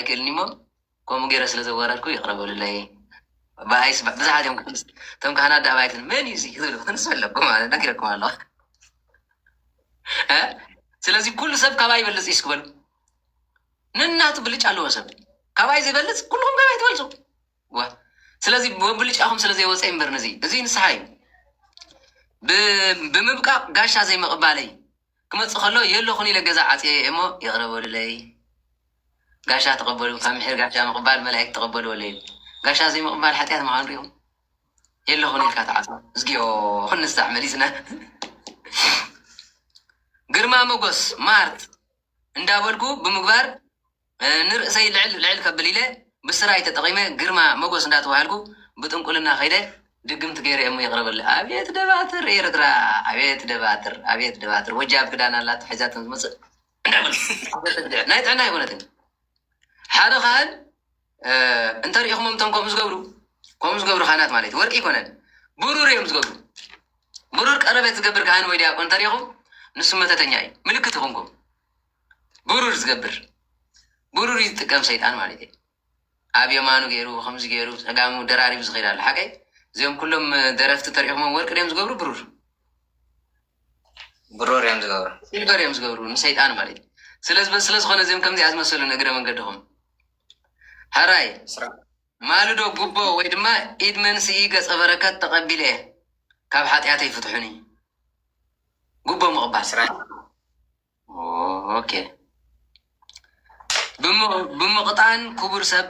ኣይክእልን እዩሞ ከምኡ ገይረ ስለ ዘዋረድኩ ይቕረ በሉለይ ብኣይስ ብዙሓት እዮም ክምስ እቶም ካህናት ዳኣ ባይትን መን እዩ እዙይ ዝብሉ ክንስ ኣለኩም ማለት ነጊረኩም ኣለኹ እ ስለዚ ኩሉ ሰብ ካባይ ይበልፅ እዩ ስክበሉ ንናቱ ብልጫ ኣለዎ ሰብ ካባይ ዘይበልፅ ኩልኩም ካባይ ትበልፁ ዋ ስለዚ ወብልጫኹም ስለ ዘይወፀ እምበር ነዚ እዙይ ንስሓ እዩ ብ- ብምብቃቕ ጋሻ ዘይምቕባለይ ክመጽእ ከሎ የለኹን ኢለ ገዛ ዓጽየዮ እየ እሞ ይቕረ በሉለይ። ጋሻ ተቐበሉ፣ ካብ ምሒር ጋሻ ምቕባል መላኢክት ተቐበልዎ ለይሉ። ጋሻ ዘይምቕባል ሓጢኣት ምዃኑ ርእዮም የለኹን ኢልካ ትዓጽዎ። እዝግዮ ክንሳዕ መሊስና። ግርማ ሞጎስ ማርት እንዳበልኩ ብምግባር ንርእሰይ ልዕል ልዕል ከብል ኢለ ብስራይ ተጠቒመ ግርማ መጎስ እንዳተባሃልኩ ብጥንቁልና ከይደ ድግምት ገይረ እየሞ ይቕረ በለለይ። ኣቤት ደባትር ኤርትራ ኣቤት ደባትር ኣቤት ደባትር ወጃብ ክዳን ኣላቶ ሒዛቶም ዝመጽእ እንዳበልኩ ናይ ጥዕና ኣይኮነትን እዩ። ሓደ ካህን እንተሪኢኹሞም እቶም ከምኡ ዝገብሩ ከምኡ ዝገብሩ ካህናት ማለት እዩ ወርቂ ኣይኮነን ብሩር እዮም ዝገብሩ ብሩር ቀረበት ዝገብር ካህን ወይ ዲያቆን እንተሪኢኹም ንሱ መተተኛ እዩ ምልክት ይኹንኩም ብሩር ዝገብር ብሩር እዩ ዝጥቀም ሰይጣን ማለት እዩ ኣብ የማኑ ገይሩ ከምዚ ገይሩ ፀጋሙ ደራሪቡ ዝኸይድ ኣሎ ሓቀይ እዚኦም ኩሎም ደረፍቲ ተሪእኹሞም ወርቂ ድዮም ዝገብሩ ብሩር ብሩር እዮም ዝገብሩ ሲልቨር እዮም ዝገብሩ ንሰይጣን ማለት እዩ ስለዚ ስለ ዝኾነ እዚኦም ከምዚኣ ዝመሰሉ ንእግረ መንገድኹም ሕራይ ማልዶ ጉቦ ወይ ድማ ኢድ መንስኢ ገፀ በረከት ተቐቢለ እየ ካብ ሓጢኣተይ ፍትሑኒ ጉቦ ምቕባል ኦኬ ብምቕጣዕን ክቡር ሰብ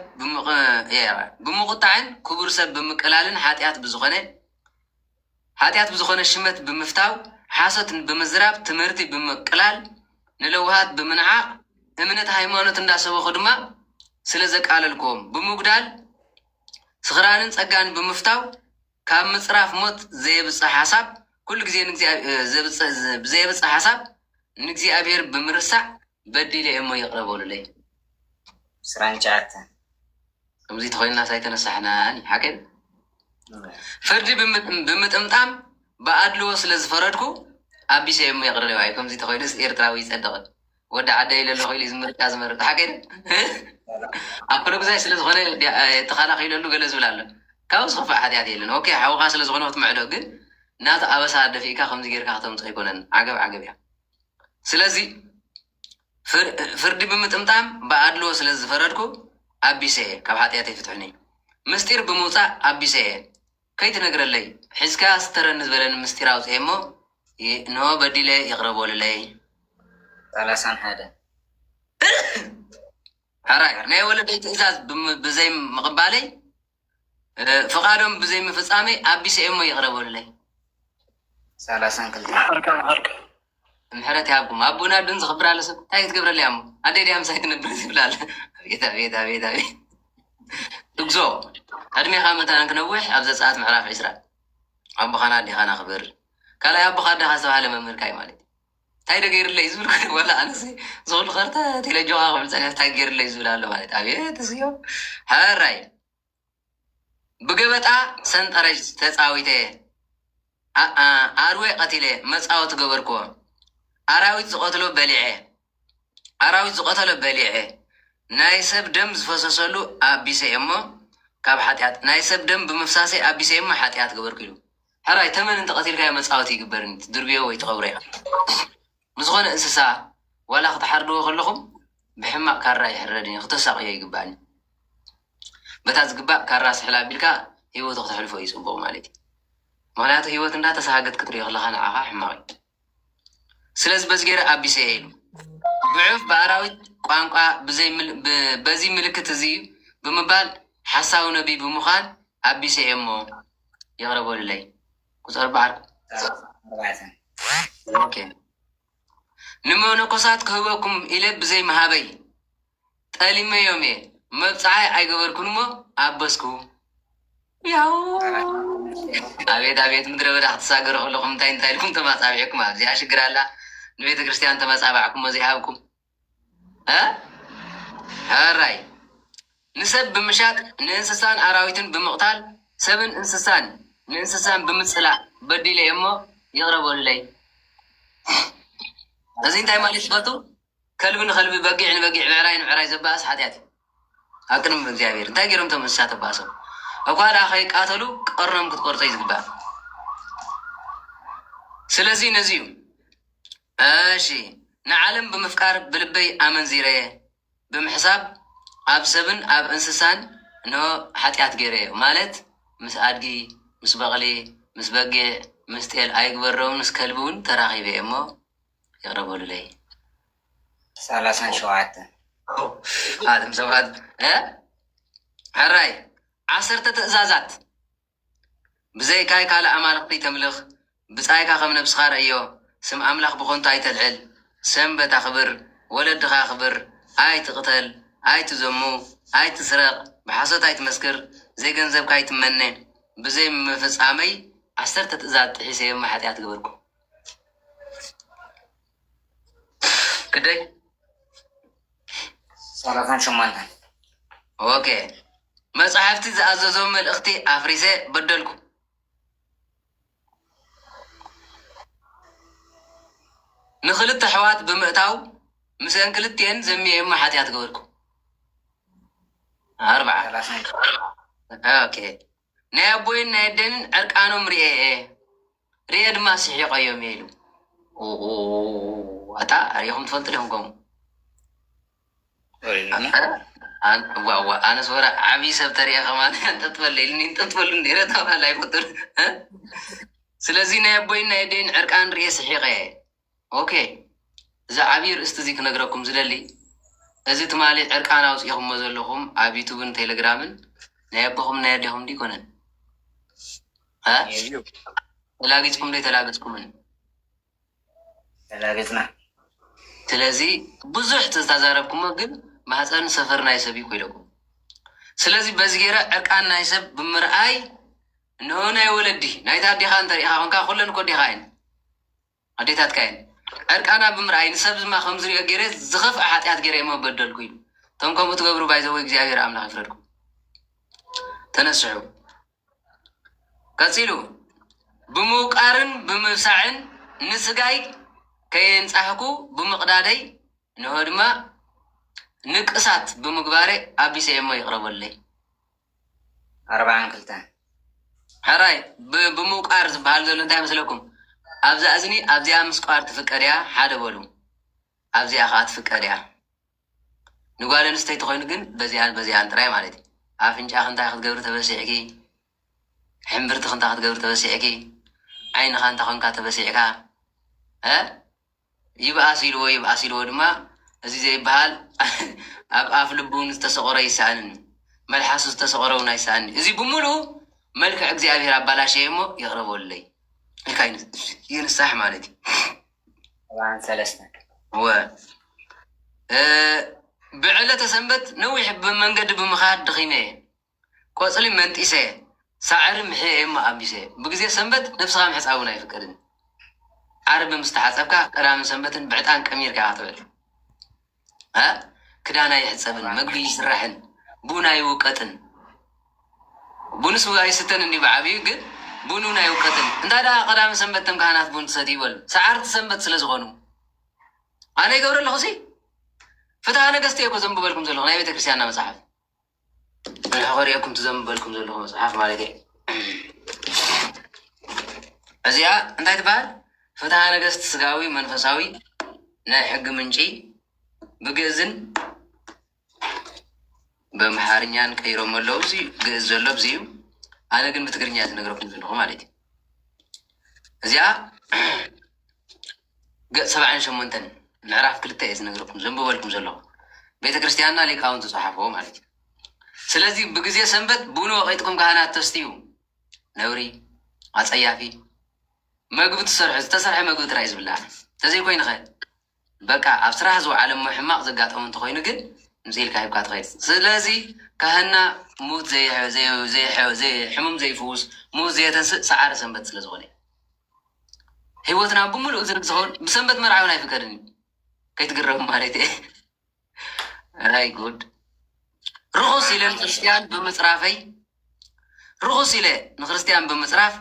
ብምቑጣዕን ክቡር ሰብ ብምቅላልን ሓጢኣት ብዝኾነ ሓጢኣት ብዝኾነ ሽመት ብምፍታው ሓሶት ብምዝራብ ትምህርቲ ብምቅላል ንለውሃት ብምንዓቕ እምነት ሃይማኖት እንዳሰበኹ ድማ ስለ ዘቃለልክዎም ብምጉዳል ስኽራንን ጸጋን ብምፍታው ካብ ምጽራፍ ሞት ዘየብጽሕ ሓሳብ ኩሉ ግዜ ንእግዚኣብሔር ብዘየብጽሕ ሓሳብ ንእግዚኣብሔር ብምርሳዕ በዲለ እየሞ ይቅረ በሉለይ። ዕስራን ትሽዓተን ከምዚ ተኾይንናስ ኣይተነሳሕናን እዩ ሓቀይ ፍርዲ ብምጥምጣም ብኣድልዎ ስለ ዝፈረድኩ ኣቢሰ እየሞ ይቅረ ለይ ከምዚ ተኾይኑስ ኤርትራዊ ይጸድቅን ወዲ ዓደይ ለለኹ ኢሉ ዝምርጫ ዝመርፅ ሓቂ ኣብ ፖለጉዛይ ስለዝኾነ ተኸላኺለሉ ገለ ዝብል ኣሎ ካብኡ ዝኸፍእ ሓጢኣት የለን ኦኬ ሓውኻ ስለዝኾነ ክትምዕዶ ግን ናቲ ኣበሳ ደፊእካ ከምዚ ጌርካ ከተምፅኦ ኣይኮነን ዓገብ ዓገብ እያ ስለዚ ፍርዲ ብምጥምጣም ብኣድልዎ ስለዝፈረድኩ ኣቢሰ እየ ካብ ሓጢኣተይ ፍትሑኒ ምስጢር ብምውፃእ ኣቢሰ እየ ከይትነግረለይ ሒዝካ ስተረኒ ዝበለኒ ምስጢር ኣውጽኤ እሞ እንሆ በዲለ ይቕረ በሉለይ። ሰላሳን ሓደን። ሕራይ ናይ ወለደይ ትእዛዝ ብዘይምቕባለይ ፍቓዶም ብዘይምፍጻመይ ኣቢሰ እየ እሞ ይቕረ በሉለይ። ሰላሳን ክልተን። ምሕረት ይሃብኩም ኣቡን ኣዱን ዝኽብር ኣሎ ሰብ ታይ ክትገብረለይ ኣሞ ኣደይ ድያ ምሳይ ትነብር ዝብል ኣሎ ኣቤት ኣቤት ኣቤት ኣቤት እግዞ ዕድሜኻ መታን ክነውሕ ኣብ ዘፀኣት ምዕራፍ ዕስራ ኣቦኻን ኣዴኻን ኣኽብር ካልኣይ ኣቦኻ ኣዴኻ ዝተባሃለ መምህርካ እዩ ማለት ታይ ደገይርለይ ዝብል ወላ ኣነስ ዝኽሉ ከርተ ቴሌጆኻ ክብል ፀኒሕ ታይ ገይርለይ ዝብል ኣሎ ማለት ኣብየት እዚዮ ሕራይ ብገበጣ ሰንጠረዥ ተጻዊተ እየ ኣርዌ ቀቲለ መጻወቲ ገበርክዎ ኣራዊት ዝቀትሎ በሊዐ ኣራዊት ዝቀተሎ በሊዐ ናይ ሰብ ደም ዝፈሰሰሉ ኣቢሰ እየሞ ካብ ሓጢኣት ናይ ሰብ ደም ብምፍሳሰይ ኣቢሰ እየሞ ሓጢኣት ገበርኩ ኢሉ ሕራይ ተመን እንተቀቲልካዮ መጻወቲ ይግበርን ትድርብዮ ወይ ትቀብሮ ኢካ ንዝኾነ እንስሳ ዋላ ክትሓርድዎ ከለኹም ብሕማቕ ካራ ይሕረድ እዩ ክተሳቕዮ ኣይግባእን እዩ። በታ ዝግባእ ካራ ስሕል ኣቢልካ ህይወቱ ክተሕልፎ እዩ ጽቡቕ ማለት እዩ። ምክንያቱ ህይወት እንዳ ተሳሃገት ክትሪኦ ከለኻ ንዓኻ ሕማቕ እዩ። ስለዚ በዚ ገይረ ኣቢሰ እየ ኢሉ። ብዑፍ ብኣራዊት ቋንቋ ብዘይ ምል- ብ- በዚ ምልክት እዚ እዩ ብምባል ሓሳዊ ነቢይ ብምዃን ኣቢሰ እየ እሞ ይቕረ በሉለይ። ቁፅር በዓል ኣርባዕተ ኦኬ ንመነኮሳት ክህበኩም ኢለ ብዘይ መሃበይ ጠሊመዮም እየ መብፅዓይ ኣይገበርኩን እሞ ኣበስኩ ያው ኣቤት ኣቤት ምድረ በዳ ክትሳገሩ ከለኹም እንታይ እንታይ ኢልኩም ተማፃቢዕኩም ኣብዚኣ ሽግር ኣላ ንቤተ ክርስቲያን ተመፃባዕኩሞ ዘይሃብኩም ሕራይ ንሰብ ብምሻጥ ንእንስሳን ኣራዊትን ብምቕታል ሰብን እንስሳን ንእንስሳን ብምጽላእ በዲለ እሞ ይቕረ በሉለይ። እዚ እንታይ ማለት ትፈልጡ? ከልቢ ንኸልቢ በጊዕ ንበጊዕ ብዕራይ ንብዕራይ ዘባእስ ሓጢኣት እዩ ኣብ ቅድሚ እግዚኣብሔር። እንታይ ገይሮም እቶም እንስሳ ተባእሶም? እኳ ደኣ ከይቃተሉ ቀርኖም ክትቆርጾ እዩ ዝግባእ። ስለዚ ነዚ እዩ እሺ ንዓለም ብምፍቃር ብልበይ ኣመንዚረየ ብምሕሳብ ኣብ ሰብን ኣብ እንስሳን እንሆ ሓጢኣት ገይረየ ማለት ምስ ኣድጊ ምስ በቕሊ ምስ በጊዕ ምስ ጤል ኣይግበርዶውን ምስ ከልቢ ውን ተራኺበየ እሞ ይቕረ በሉለይ ሰላሳን ሸውዓተን ኣቱም ሰባት ሐራይ ዓሰርተ ትእዛዛት። ብዘይካይ ካልእ ኣማልኽቲ ኣይተምልኽ፣ ብጻይካ ከም ነብስኻ ርኣዮ፣ ስም ኣምላኽ ብኸንቱ ኣይተልዕል፣ ሰንበት ኣኽብር፣ ወለድኻ ኣኽብር፣ ኣይትቕተል፣ ኣይትዘሙ፣ ኣይትስረቕ፣ ብሓሶት ኣይትመስክር፣ ዘይገንዘብካ ኣይትመነ፣ ብዘይምፍጻመይ ዓሰርተ ትእዛዝ ጥሒሰ እሞ ሓጢኣት ገበርኩ። ግደይ ሰላሳን ሸሞንተን ኦኬ መጻሕፍቲ ዝኣዘዞ መልእኽቲ ኣፍሪሰ በደልኩ። ንክልተ ኣሕዋት ብምእታው ምስአን ክልቲኤን ዘሚየማ ሓጢኣት ገበርኩ። ኣርብዓ ሰላሳን ኦኬ ናይ ኣቦይን ናይ ኣደንን ዕርቃኖም ሪኤ እየ ሪኤ ድማ ስሒቀዮም እየ ኢሉ ኣታ ሪኢኹም ትፈልጡ ዲኹም ከምኡ ኣነስ ወረ ዓብይ ሰብ ተሪኤ ከማን ጠጥበለ ኢልኒ ጠጥበሉ ነረ ተባህላ ኣይፈጡን ስለዚ ናይ ኣቦይን ናይ ደይን ዕርቃን ርኤ ስሒቀ ኦኬ እዚ ዓብይ ርእስቲ እዚ ክነግረኩም ዝደሊ እዚ ትማሊ ዕርቃን ኣውጺእኹሞ ዘለኹም ኣብ ዩቱብን ቴለግራምን ናይ ኣቦኹምን ናይ ኣዴኹምን ዶ ኣይኮነን ዩ ተላጊጽኩም ዶ ኣይተላገጽኩምን ተላገጽና ስለዚ ብዙሕ ተዛረብኩሞ ግን ማህጸን ሰፈር ናይ ሰብ እዩ ኢለኩም ስለዚ በዚ ገይረ ዕርቃን ናይ ሰብ ብምርኣይ ንኡ ናይ ወለዲ ናይታ ኣዴኻ እንተሪኢኻ ኮንካ ኩለን እኮ ኣዴኻ እየን ኣዴታትካ እየን ዕርቃና ብምርኣይ ንሰብ ድማ ከም ዝሪኦ ገይረ ዝኸፍኣ ሓጥያት ገይረ እሞ በደልኩ ኢሉ እቶም ከምኡ ትገብሩ ባይ ዘ ወይ እግዚኣብሔር ኣምላኽ ይፍረድኩም ተነስሑ ቀጺሉ ብምውቃርን ብምብሳዕን ንስጋይ ከየንጻህኩ ብምቕዳደይ እንሆ ድማ ንቅሳት ብምግባረ ኣቢሰ እየ እሞ ይቕረ በሉለይ ኣርብዓን ክልተን ሕራይ ብምውቃር ዝበሃል ዘሎ እንታይ መስለኩም ኣብዛ እዝኒ ኣብዚኣ ምስቋር ትፍቀድ እያ ሓደ በሉ ኣብዚኣ ከዓ ትፍቀድ እያ ንጓል ኣንስተይቲ ኮይኑ ግን በዚኣን በዚኣን ጥራይ ማለት እዩ ኣፍንጫኺ እንታይ ክትገብሪ ተበሲዕኪ ሕምብርትኺ እንታይ ክትገብሪ ተበሲዕኪ ዓይንኻ እንታይ ኮንካ ተበሲዕካ ይብኣስ ኢልዎ ይብኣስ ኢልዎ ድማ እዚ ዘይብሃል ኣብ ኣፍ ልቡውን ዝተሰቆረ ይሰኣንን እዩ መልሓሱ ዝተሰቆረ ውን ኣይሰኣንን እዩ እዚ ብምሉኡ መልክዕ እግዚኣብሔር ኣባላሸየ እሞ ይቅረ በሉለይ ኢልካ ይንሳሕ ማለት እዩ ሰብዓን ሰለስተን እወ እ ብዕለተ ሰንበት ነዊሕ ብመንገዲ ብምኻድ ድኺመ እየ ቆጽሊ መንጢሰ፣ ሳዕሪ ምሕየ እሞ ኣቢሰ። ብግዜ ሰንበት ነብስኻ ምሕጻብ እውን ኣይፍቀድን። ዓርቢ ምስ ተሓጸብካ፣ ቀዳምን ሰንበትን ብዕጣን ቀሚርካ ኢኻ ክትውዕል። a ክዳን ኣይሕጸብን፣ መግቢ ኣይስራሕን፣ ቡን ኣይውቀጥን። ቡን ስውእ ኣይስተን እንድዩ ብዓቢኡ፣ ግን ቡን እውን ኣይውቀጥን። እንተ ደኣ ቀዳምን ሰንበት እቶም ካህናት ቡን ትሰትዩ በሉ፣ ሰዓርቲ ሰንበት ስለ ዝኾኑ። ኣነ ይገብሮ ኣለኹ፣ እዚ ፍትሃ ነገስት እየ እኮ ዘንብበልኩም ዘለኹ፣ ናይ ቤተ ክርስትያንና መጽሓፍ። እንሆ ከርእየኩም እቲ ዘንብበልኩም ዘለኹ መጽሓፍ ማለት እየ። እዚኣ እንታይ ትበሃል? ፍትሃ ነገስት ስጋዊ መንፈሳዊ ናይ ሕጊ ምንጪ ብግእዝን በምሓርኛን ቀይሮም ኣለዉ። እዚ ግእዝ ዘሎ ብዚ እዩ። ኣነ ግን ብትግርኛ ዝነግረኩም ዘለኹ ማለት እዩ። እዚኣ ገጽ ሰብዓን ሸሞንተን ምዕራፍ ክልተ እየ ዝነግረኩም ዘንብበልኩም ዘለኹ ቤተ ክርስትያንና ሊቃውንት ዝጸሓፍዎ ማለት እዩ ስለዚ ብግዜ ሰንበት ቡን ወቂጥኩም ካህናት ተስትዩ ነውሪ ኣጸያፊ መግቢ ትሰርሑ ዝተሰርሐ መግቢ ጥራይ ዝብላዕ ተዘይኮይንኸ በቃ ኣብ ስራሕ ዝወዓለ እሞ ሕማቕ ዘጋጠሙ እንተኾይኑ ግን ምስ ኢልካ ሂብካ ትኸይድ ስለዚ ካህና ሙት ዘይሕሙም ዘይፍውስ ሙት ዘየተንስእ ሰዓረ ሰንበት ስለዝኾነ ህይወትና ብምሉኡ ዝርግ ዝኸውን ብሰንበት መርዓ እውን ኣይፍቀድን እዩ ከይትግረሙ ማለት እየ ኣይ ጉድ ርኹስ ኢለ ንክርስትያን ብምፅራፈይ ርኹስ ኢለ ንክርስትያን ብምፅራፍ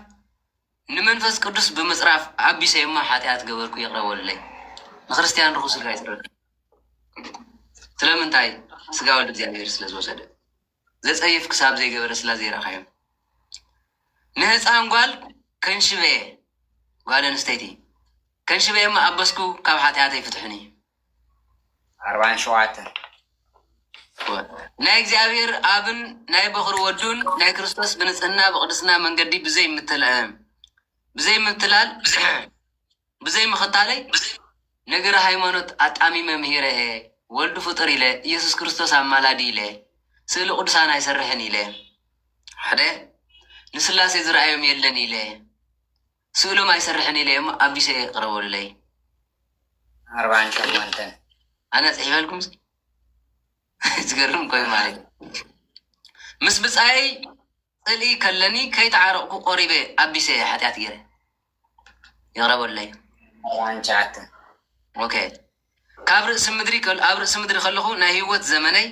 ንመንፈስ ቅዱስ ብምፅራፍ ኣቢሰይማ ሓጢኣት ገበርኩ ይቕረበሉለይ ንክርስትያን ርኹስ ኢልካ ይፅረፍ ስለምንታይ ስጋ ወልድ እግዚኣብሔር ስለ ዝወሰደ ዘጸይፍ ክሳብ ዘይገበረ ስላ ዘይረኣኻዮ ንህጻን ጓል ከንሽበየ ጓል ኣንስተይቲ ከንሽበየ እሞ ኣበስኩ ካብ ሓጥያተይ ፍትሑኒ ዓርባን ሸውዓተን ናይ እግዚኣብሔር ኣብን ናይ በኹሪ ወዱን ናይ ክርስቶስ ብንጽህና ብቅድስና መንገዲ ብዘይ ምትላል ብዘይ ምኽታለይ ነገረ ሃይማኖት ኣጣሚመ ምሂረ እየ፣ ወልድ ፍጡር ኢለ፣ ኢየሱስ ክርስቶስ ኣማላዲ ኢለ፣ ስእሊ ቅዱሳን ኣይሰርሕን ኢለ፣ ሓደ ንስላሴ ዝረኣዮም የለን ኢለ፣ ስእሎም ኣይሰርሕን ኢለ እሞ ኣቢሰ እየ ቅረቡልለይ። ኣርባዓን ሸሞንተን ኣነ ጽሒፈልኩምሲ ዝገርም ኮይኑ ማለት እዩ ምስ ብጻየይ ጽልኢ ከለኒ ከይተዓረቕኩ ቆሪበ ኣቢሰ እየ ሓጥያት ገይረ ይቕረ በሉለይ። ኣርብዓን ትሽዓተን ኦኬ ካብ ርእሲ ምድሪ ከል ኣብ ርእሲ ምድሪ ከለኹ ናይ ህይወት ዘመነይ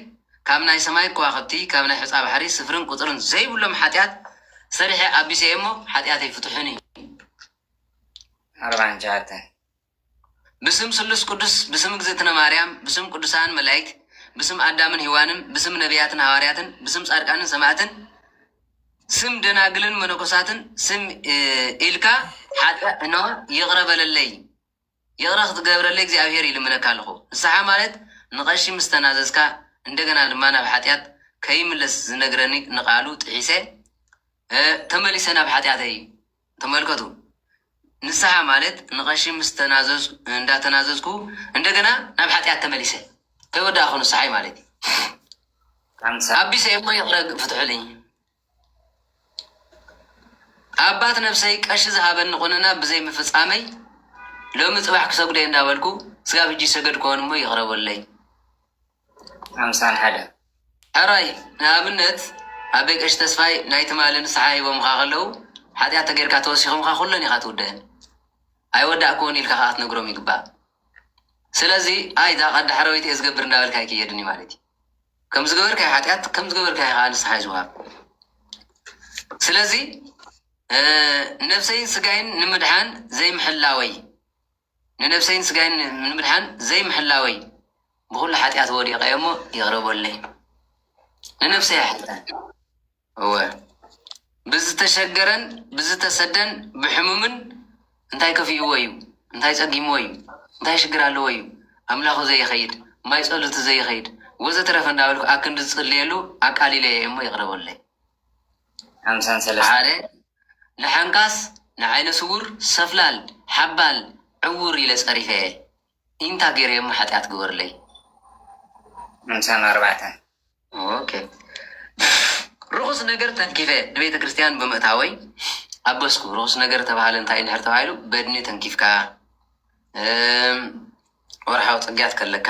ካብ ናይ ሰማይ ከዋኽብቲ ካብ ናይ ሑጻ ባሕሪ ስፍርን ቁጽርን ዘይብሎም ሓጥያት ሰሪሐ ኣቢሰ እየ እሞ ሓጥያተይ ፍትሑኒ። ኣርብዓን ትሽዓተን ብስም ስሉስ ቅዱስ ብስም እግዝእትነ ማርያም ብስም ቅዱሳን መላኢክት ብስም ኣዳምን ሂዋንን ብስም ነብያትን ሃዋርያትን ብስም ጻድቃንን ሰማእትን ስም ደናግልን መነኮሳትን ስም ኢልካ ሓጢኣ እኖ ይቕረ በለለይ ይቕረ ክትገብረለይ እግዚኣብሔር ይልምነካ ኣለኹ ንስሓ ማለት ንቐሺ ምስ ተናዘዝካ እንደገና ድማ ናብ ሓጢኣት ከይምለስ ዝነግረኒ ንቃሉ ጥሒሰ ተመሊሰ ናብ ሓጢኣተይ ተመልከቱ ንስሃ ማለት ንቀሺ ምስ ተናዘዙ እንዳ ተናዘዝኩ እንደገና ናብ ሓጥያት ተመሊሰ ከይ ወዳእኩ ንስሓይ ማለት እዩ ኣቢሰ እሞ ይቅረ ፍትሑልኝ ኣባት ነብሰይ ቀሺ ዝሃበኒ ቁንና ብዘይ ምፍጻመይ ሎሚ ጽባሕ ክሰግዶ እየ እንዳበልኩ ስጋብ ሕጂ ይሰገድኩዎን እሞ ይቅረ በሉለይ ሓምሳን ሓደን ሕራይ ንኣብነት ኣበይ ቀሺ ተስፋይ ናይ ትማሊ ንስሓ ሂቦምኻ ከለው ሓጥያት ተገይርካ ተወሲኾምኻ ኩለን ኢኻ ትውደእን ኣይወዳእኩዎን ኢልካ ከኣ ክትነግሮም ይግባእ ስለዚ ኣይ እዛ ቀዲ ሕረዊት እየ ዝገብር እንዳበልካ ኣይክየድን እዩ ማለት እዩ ከም ዝገበርካዮ ሓጢኣት ከም ዝገበርካዮ ከዓ ንስሓ እዩ ዝወሃብ ስለዚ ነብሰይን ስጋይን ንምድሓን ዘይምሕላወይ ንነብሰይን ስጋይን ንምድሓን ዘይምሕላወይ ብኹሉ ሓጢኣት ወዲቐ እየ እሞ ይቕረ በሉለይ። ንነብሰይ ኣይሓትታን። እወ፣ ብዝተሸገረን ብዝተሰደን ብሕሙምን እንታይ ከፊእዎ እዩ? እንታይ ጸጊምዎ እዩ? እንታይ ሽግር ኣለዎ እዩ? ኣምላኹ ዘይኸይድ? ማይ ጸሎቱ ዘይኸይድ? ወዘተረፈ እንዳበልኩ ኣክንዲ ዝጽልየሉ ኣቃሊለዮ እየ እሞ ይቕረ በሉለይ። ሓምሳን ሰለስተ። ሓደ ንሓንካስ ንዓይነ ስዉር ሰፍላል ሓባል ዕዉር ኢለ ጸሪፈ እየ ኢንታ ገይረ እሞ ሓጥያት ግበሩለይ። ሓምሳን ኣርባዕተ። ኦኬ ርኹስ ነገር ተንኪፈ ንቤተ ክርስትያን ብምእታወይ ኣበስኩ ርኹስ ነገር ተባሃለ እንታይ እንድሕር ተባሂሉ በድኒ ተንኪፍካ ወርሓዊ ጽግያት ከለካ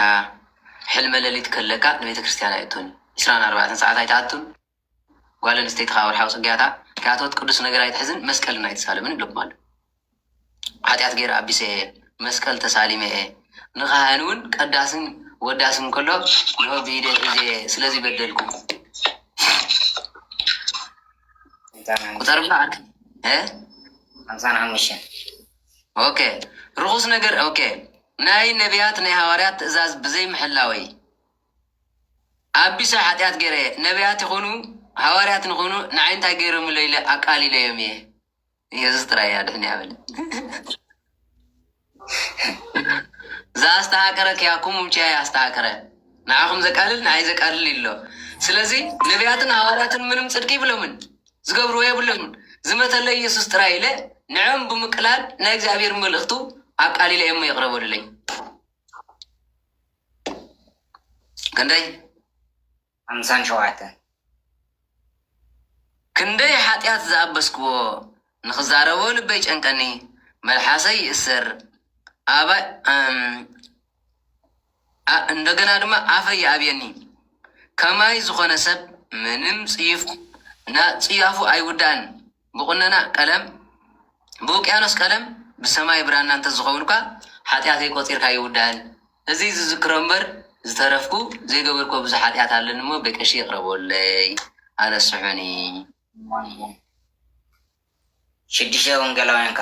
ሕልመ ለሊት ከለካ ንቤተ ክርስትያን ኣይእቶን ኢስራን ኣርባዕተን ሰዓት ኣይትኣቱን ጓል ኣንስተይቲ ከኣ ወርሓዊ ጽግያታ ከይኣተወት ቅዱስ ነገር ኣይትሕዝን መስቀልን ኣይትሳለምን ኢሎምዋ ኣለዉ። ሓጢኣት ገይረ ኣቢሰ እየ፣ መስቀል ተሳሊመ እየ፣ ንካህን ውን ቀዳስን ወዳስን ከሎ እንሆ ብኢደይ ሒዘ እየ ስለዚ በደልኩ ቁጸርልና ዓርከይ እ ሓምሳን ሓሙሽተን ኦኬ ርኹስ ነገር ኦኬ ናይ ነቢያት ናይ ሃዋርያት ትእዛዝ ብዘይምሕላወይ ኣቢሰ ሓጢኣት ገይረ እየ ነብያት ይኹኑ ሃዋርያት ንኹኑ ንዓይ እንታይ ገይሮምለይ ኢለ ኣቃሊለዮም እየ የሱስ ጥራይ እየ ኣድሕንያ በለ ዘኣስተሃቀረ ኪያኩም ውኪያ ኣስተሃቀረ ንዓኹም ዘቃልል ንዓይ ዘቃልል ኢሎ ስለዚ ነብያትን ሃዋርያትን ምንም ጽድቂ ይብሎምን ዝገብርዎ የብሎምን ዝመተለይ የሱስ ጥራይ ኢለ ንዕም ብምቅላል ናይ እግዚኣብሔር መልእኽቱ ኣቃሊለ እየሞ የቕረበሉለይ ክንደይ ሓምሳን ሸውዓተን ክንደይ ሓጢኣት ዝኣበስክዎ ንክዛረቦ ልበይ ጨንቀኒ መልሓሰይ ይእሰር ኣባይ እንደገና ድማ ኣፈይ ይኣብየኒ ከማይ ዝኾነ ሰብ ምንም ፅዩፍ ና ፅያፉ ኣይውዳእን ብቑነና ቀለም ብውቅያኖስ ቀለም ብሰማይ ብራና እንተዝኸውንኳ ሓጢኣተይ ቆጺርካ ኣይውዳእን እዚ ዝዝክሮ እምበር ዝተረፍኩ ዘይገበርክዎ ብዙሕ ሓጢኣት ኣለኒ እሞ በቀሺ ይቕረቦለይ ኣነስሑኒ። ሽዱሽተ ወንጌላውያን ከ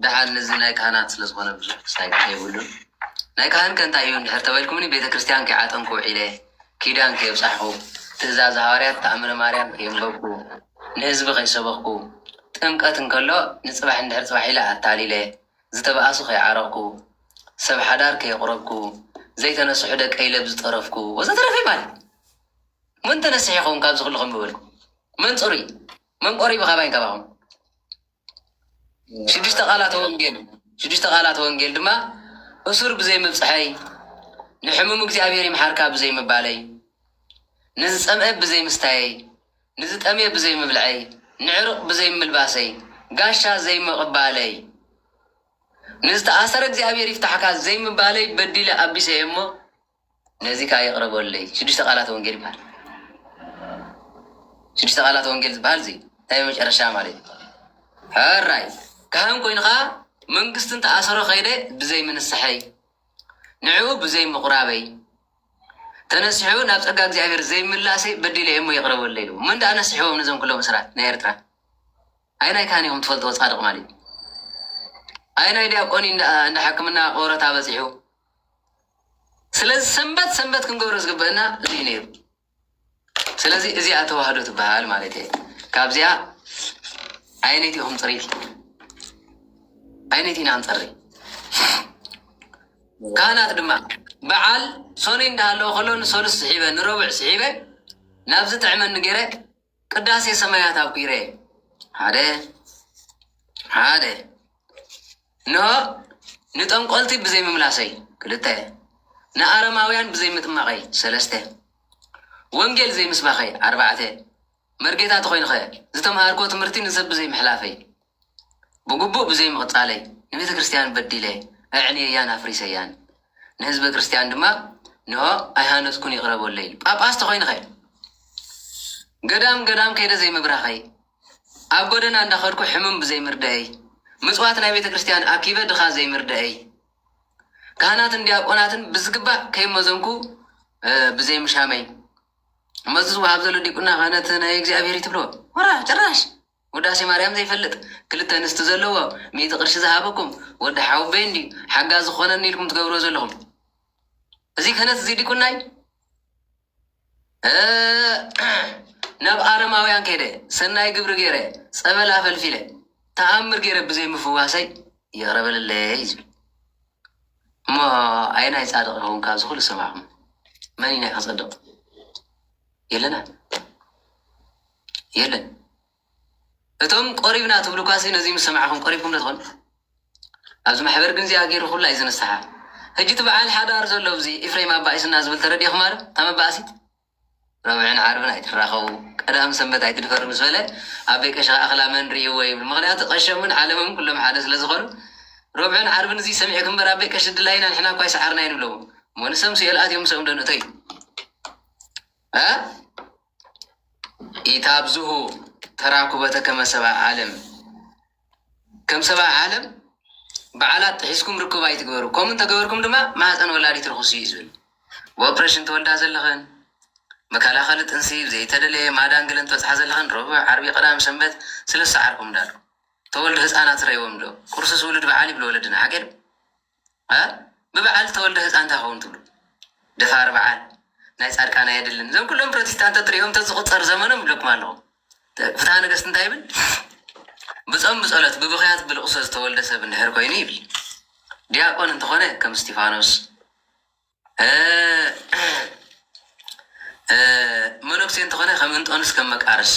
ደሓር እዚ ናይ ካህናት ስለ ዝኾነ ብዙሕ ክሳይድ የብሉን። ናይ ካህን ከ እንታይ እዩ እንድሕር ተበልኩምኒ ቤተ ክርስቲያን ከይዓጠንኩ ውዒለ፣ ኪዳን ከየብጻሕኹ፣ ትእዛዝ ሃዋርያት ተኣምረ ማርያም ከየንበብኩ፣ ንህዝቢ ከይሰበኽኩ፣ ጥምቀት እንከሎ ንጽባሕ እንድሕር ጽባሕ ኢለ ኣታሊለ፣ ዝተባኣሱ ከይዓረቕኩ፣ ሰብ ሓዳር ከየቕረብኩ፣ ዘይተነስሑ ደቀይ ለብ ዝጠረፍኩ ወዘተረፈ ይበሃል። መን ተነሲሑ ይኸውን ካብዚ ኩሉ ከምበበልኩ? መን ጽሩይ? መን ቆሪቡ ካባይን ካባኹም? ሽዱሽተ ቃላተ ወንጌል ሽዱሽተ ቃላተ ወንጌል ድማ እሱር ብዘይ ምብጽሐይ፣ ንሕሙም እግዚኣብሔር ይምሓርካ ብዘይ ምባለይ፣ ንዝጸምኤ ብዘይ ምስታየይ፣ ንዝጠምየ ብዘይ ምብልዐይ፣ ንዕሩቕ ብዘይ ምልባሰይ፣ ጋሻ ዘይምቕባለይ፣ ንዝተኣሰረ እግዚኣብሔር ይፍታሕካ ዘይምባለይ በዲለ ኣቢሰ እየ እሞ፣ ነዚ ከኣ ይቕረበለይ። ሽዱሽተ ቃላተ ወንጌል ይበሃል። ሽዱሽተ ቃላተ ወንጌል ዝበሃል እዚ ናይ መጨረሻ ማለት እዩ። ሕራይ ካህን ኮይኑ ከኣ መንግስቲ እንተኣሰሮ ከይደ ብዘይ ምንስሐይ ንዕኡ ብዘይ ምቑራበይ ተነሲሑ ናብ ጸጋ እግዚኣብሔር ዘይምላሰይ በዲለ እሞ ይቕረበለይ ኢሉ መን ደኣ ነስሕዎም ነዞም ኩሎም እስራት ናይ ኤርትራ ኣይናይ ካህን ኢኹም ትፈልጥዎ ጻድቕ ማለት እዩ ኣይናይ ዲያቆን እንዳ ሕክምና ቆረታ በጺሑ ስለዚ ሰንበት ሰንበት ክንገብሮ ዝግበእና እዚ እዩ ነይሩ። ስለዚ እዚኣ ተዋህዶ ትበሃል ማለት እየ። ካብዚኣ ዓይነት ኢኹም ፅሪት ዓይነት ኢና ንፀሪ ካህናት ድማ በዓል ሶኒ እንዳሃለወ ከሎ ንሰሉስ ስሒበ ንረቡዕ ስሒበ ናብዚ ጥዕመኒ ገይረ ቅዳሴ ሰማያት ኣጒረ ሓደ ሓደ እንሆ ንጠንቈልቲ ብዘይምምላሰይ ክልተ ንኣረማውያን ብዘይምጥማቐይ ሰለስተ ወንጌል ዘይምስባኸይ ኣርባዕተ መርጌታ ተኾይንኸ ዝተምሃርክዎ ትምህርቲ ንሰብ ብዘይምሕላፈይ ብግቡእ ብዘይምቕጻለይ ንቤተ ክርስትያን በዲለ ኣዕንየያን ኣፍሪሰያን ንህዝበ ክርስትያን ድማ እንሆ ኣይሃነጽኩን ይቕረ በሉለይ ጳጳስ ተኾይንኸ ገዳም ገዳም ከይደ ዘይምብራኸይ ኣብ ጎደና እንዳኸድኩ ሕሙም ብዘይምርዳኤይ ምጽዋት ናይ ቤተ ክርስትያን ኣኪበ ድኻ ዘይምርዳኤይ ካህናትን ዲያቆናትን ብዝግባእ ከይመዘንኩ ብዘይምሻመይ እመዚ ዝወሃብ ዘሎ ዲቁና ክህነት ናይ እግዚኣብሔር ትብሎ ወራ ጭራሽ ውዳሴ ማርያም ዘይፈልጥ ክልተ ኣንስቲ ዘለዎ ሚእቲ ቅርሺ ዝሃበኩም ወዲ ሓውበይ እንድዩ ሓጋዚ ክኾነኒ ኢልኩም ትገብርዎ ዘለኹም እዚ ክህነት እዚ ዲቁናይ ናብ ኣረማውያን ከይደ ሰናይ ግብሪ ገይረ ጸበል ኣፈልፊለ ተኣምር ገይረ ብዘይ ምፍዋሰይ ይቕረበለለይ እዩ ዝብል እሞ ኣየናይ ጻድቕ ይኸውን ካብዚ ኩሉ ሰማዕኹም መን ኢና ከጸድቕ የለና የለን እቶም ቆሪብና ትብሉኳሲ ነዚ ምስ ሰማዕኹም ቆሪብኩም ዶ ትኾኑ ኣብዚ ማሕበር ግን እዚኣ ገይሩ ኩላ እዩ ዘነሳሓ ሕጂ እቲ በዓል ሓዳር ዘሎ ኣብዚ ኢፍሬም ኣባኢሱና ዝብል ተረዲእኹማ ዶ እታ መባእሲት ረብዕን ዓርብን ኣይትራኸቡ ቀዳም ሰንበት ኣይትድፈሩ ምስ በለ ኣቤ ቀሺ ከዓ ክላ መን ርእይዎ ይብል ምክንያቱ ቀሸምን ዓለምም ኩሎም ሓደ ስለ ዝኾኑ ረብዕን ዓርብን እዚ ሰሚዕ ክምበር ኣቤ ቀሺ ድላይና ንሕና እኳ ኣይሰዓርናይን ይብለዎ እሞ ንሰም ስኤል ኣትዮም ሰም ዶ ንእቶ እዩ እ ኢታብዝሁ ተራኩበተ ከመ ሰብኣ ዓለም፣ ከም ሰብኣ ዓለም በዓላት ጥሒስኩም ርክብ ኣይትግበሩ፣ ከምኡ እንተ ገበርኩም ድማ ማህጸን ወላዲት ርኹስ እዩ ዝብል። ብኦፕረሽን ትወልዳ ዘለኽን፣ መከላኸሊ ጥንሲ ብዘይተደለየ ማዳን ገለን ትበጽሓ ዘለኽን ረቡዕ፣ ዓርቢ፣ ቀዳም፣ ሰንበት ስለ ዝሰዓርኩም ዳሉ ተወልዱ ህጻናት ትረእይዎም ዶ? ቁርስስ ውሉድ በዓል ይብሉ ወለድና ሓቂ ዶ? እምበር ብበዓል ተወልደ ህጻን ታይ ክኸውን ትብሉ ደፋር በዓል ናይ ጻድቃን ኣየድልን እዞም ኩሎም ፕሮቲስታንት ተትሪኦም ተዝቁጸር ዘመኖም ይብለኩም ኣለኹ ፍትሃ ነገስት እንታይ ይብል ብጾም ብጸሎት ብብኽያት ብልቕሶ ዝተወልደ ሰብ እንድሕር ኮይኑ ይብል ዲያቆን እንተኾነ ከም እስቲፋኖስ መነኩሴ እንተኾነ ከም እንጦንስ ከም መቃርስ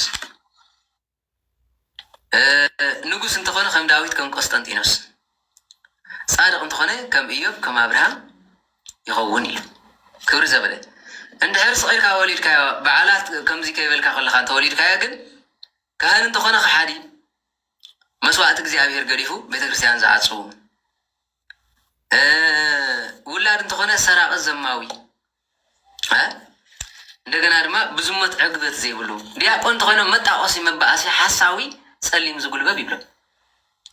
ንጉስ እንተኾነ ከም ዳዊት ከም ቆስጠንጢኖስ ጻድቕ እንተኾነ ከም እዮብ ከም ኣብርሃም ይኸውን እዩ ክብሪ ዘበለ እንድሕር ስቂልካ ወሊድካዮ በዓላት ከምዚ ከይበልካ ከለካ እንተወሊድካዮ ግን ካህን እንተኾነ ከሓዲ መስዋእቲ እግዚኣብሔር ገዲፉ ቤተ ክርስቲያን ዝዓጽዉ ውላድ እንተኾነ ሰራቂ ዘማዊ እንደገና ድማ ብዝሞት ዕግበት ዘይብሉ ዲያቆን እንተኾይኖም መጣቆሲ መባኣሲ ሓሳዊ ጸሊም ዝጉልበብ ይብሎም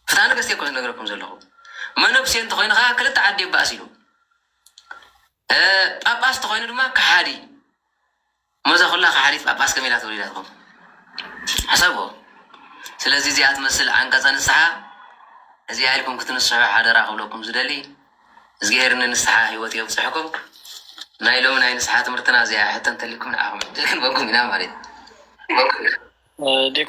ፍትሐ ነገስት እየ እኮ ዝነግረኩም ዘለኹ መነኩሴ እንተኾይኑ ከዓ ክልተ ዓዲ የባእስ ኢሉ ጳጳስ እንተኾይኑ ድማ ከሓዲ እሞ እዛ ኩላ ከሓዲት ጳጳስ ከመይ ኢላ ተወሊዳትኩም ሕሰብዎ ስለዚ እዚኣ ትመስል ዓንቀጸ ንስሓ እዚኣ ኢልኩም ክትንስሑ ሓደራ ክብለኩም ዝደሊ እዝግሄር ንንስሓ ህይወት የብጽሕኩም ናይ ሎሚ ናይ ንስሓ ትምህርትና እዚኣ ሕቶ እንተልይኩም ንዓኹም ክንበኩም ኢና ማለት እዩ ዲቁ